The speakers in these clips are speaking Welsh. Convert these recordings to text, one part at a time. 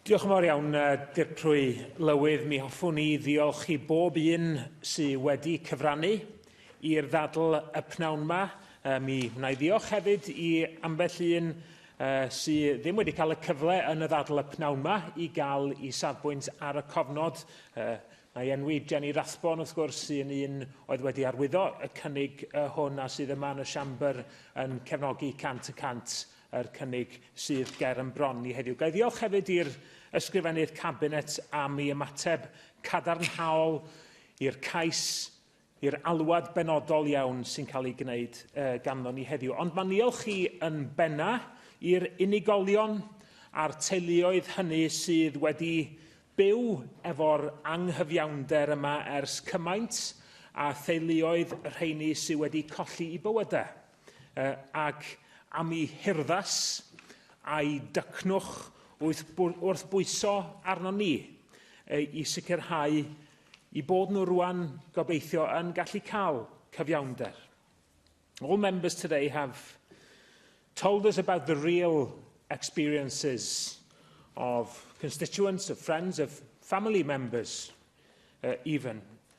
Diolch yn fawr iawn, Dirprwy Lywydd. Mi hoffwn i ddiolch i bob un sydd wedi cyfrannu i'r ddadl y pnawn yma. Mi wna i ddiolch hefyd i ambell un sydd ddim wedi cael y cyfle yn y ddadl y pnawn yma i gael i safbwynt ar y cofnod. Na i enwi Jenny Rathbone, wrth gwrs, sy'n un oedd wedi arwyddo y cynnig hwn a sydd yma yn y siambr yn cefnogi 100 y cant yr cynnig sydd ger yn bron ni heddiw. Ga i ddiolch hefyd i'r Ysgrifennydd Cabinet am ei ymateb cadarnhaol i'r cais, i'r alwad benodol iawn sy'n cael ei gwneud uh, ganddo ni heddiw. Ond mae'n niolch chi yn benna i'r unigolion a'r teuluoedd hynny sydd wedi byw efo'r anghyfiawnder yma ers cymaint a theuluoedd rheini sydd wedi colli i bywydau. uh, ac am i herddas a'i dycnwch wrth bwyso arno ni uh, i sicrhau i bod nhw rwan gobeithio yn gallu cael cyfiawnder. All members today have told us about the real experiences of constituents, of friends, of family members uh, even,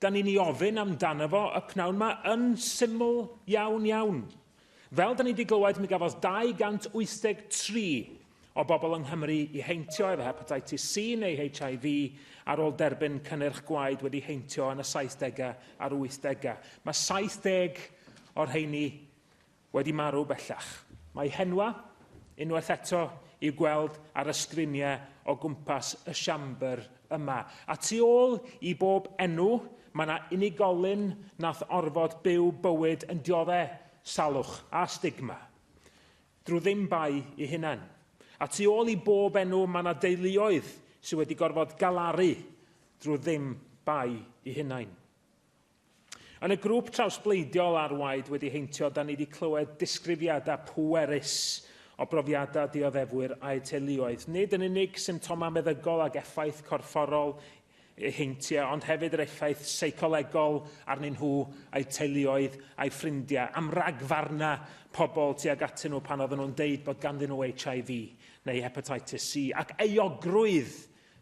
Da ni'n i ofyn amdano fo y pnawn ma yn syml iawn iawn. Fel da ni wedi glywed, mi gafodd 283 o bobl yng Nghymru i heintio efo hepatitis C neu HIV ar ôl derbyn cynnyrch gwaed wedi heintio yn y 70au a'r 80au. Mae 70 o'r rheini wedi marw bellach. Mae henwa, unwaith eto, i'w gweld ar y sgriniau o gwmpas y Siambr yma. A tu ôl i bob enw, mae yna unigolyn nath orfod byw bywyd yn diodde' salwch a stigma, drwy ddim bai i hunan. A tu ôl i bob enw, mae yna deuluoedd sydd wedi gorfod galaru drwy ddim bai i hunain. Yn y grŵp trawsbleidiol ar waed wedi heintio, da ni wedi clywed disgrifiadau pwerus o brofiadau dioddefwyr a'u teuluoedd, nid yn unig symptomau meddygol ac effaith corfforol eu heintiau, ond hefyd yr effaith seicolegol arnyn nhw, a'u teuluoedd, a'u ffrindiau, am ragfarnau pobl tuag atyn nhw pan oedden nhw'n deud bod ganddyn nhw HIV neu hepatitis C, ac euogrwydd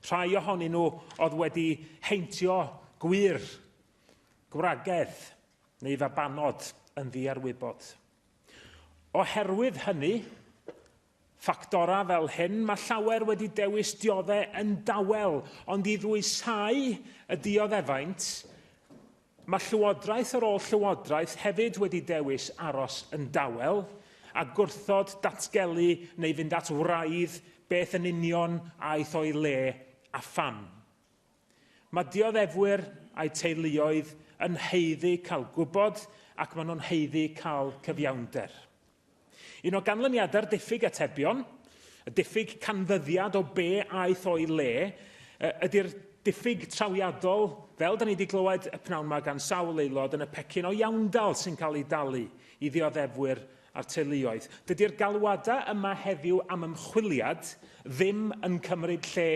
Rhai ohonyn nhw oedd wedi heintio gwŷr, gwragedd neu fabanod yn ddiarwybod. Oherwydd hynny, ffactorau fel hyn, mae llawer wedi dewis dioddef yn dawel, ond i ddwysáu y dioddefaint, Mae llywodraeth ar ôl llywodraeth hefyd wedi dewis aros yn dawel a gwrthod datgelu neu fynd at wraidd beth yn union aeth o'i le a pham. Mae dioddefwyr a'u teuluoedd yn haeddu cael gwybod ac maen nhw'n haeddu cael cyfiawnder. Un o ganlyniadau'r diffyg atebion, y diffyg canfyddiad o be aeth o'i le, ydy'r diffyg trawiadol, fel da ni wedi glywed y pnawn yma gan sawl aelod, yn y pecyn o iawndal sy'n cael ei dalu i ddioddefwyr a'r teuluoedd. Dydy'r galwadau yma heddiw am ymchwiliad ddim yn cymryd lle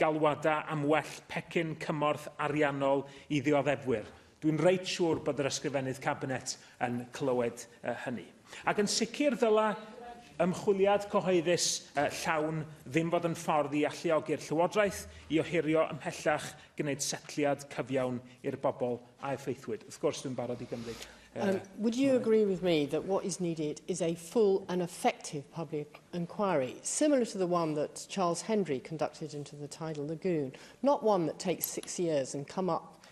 galwadau am well pecyn cymorth ariannol i ddioddefwyr. Dwi'n reit siŵr bod yr Ysgrifennydd Cabinet yn clywed hynny. Ac yn sicr ddyla ymchwiliad cyhoeddus llawn ddim fod yn ffordd i alluogi'r Llywodraeth i ohirio ymhellach gwneud setliad cyfiawn i'r bobl a effeithwyd. Wrth gwrs, dwi'n barod i gymryd Um, would you agree with me that what is needed is a full and effective public inquiry, similar to the one that Charles Hendry conducted into the tidal lagoon, not one that takes six years and come up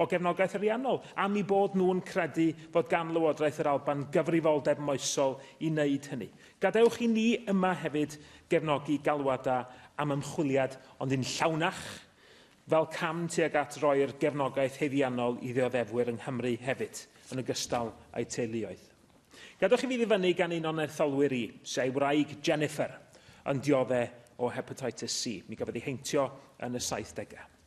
o gefnogaeth ariannol, am eu bod nhw'n credu fod gan Lywodraeth yr Alban gyfrifoldeb moesol i wneud hynny. Gadewch i ni yma hefyd gefnogi galwadau am ymchwiliad ond yn llawnach, fel cam tuag at roi'r gefnogaeth haeddiannol i ddioddefwyr yng Nghymru hefyd, yn ogystal â'u teuluoedd. Gadewch i fi ddyfynnu gan un o'n etholwyr i, sy a'i wraig Jennifer yn diodde' o Hepatitis C. Mi gafodd ei heintio yn y saithdegau.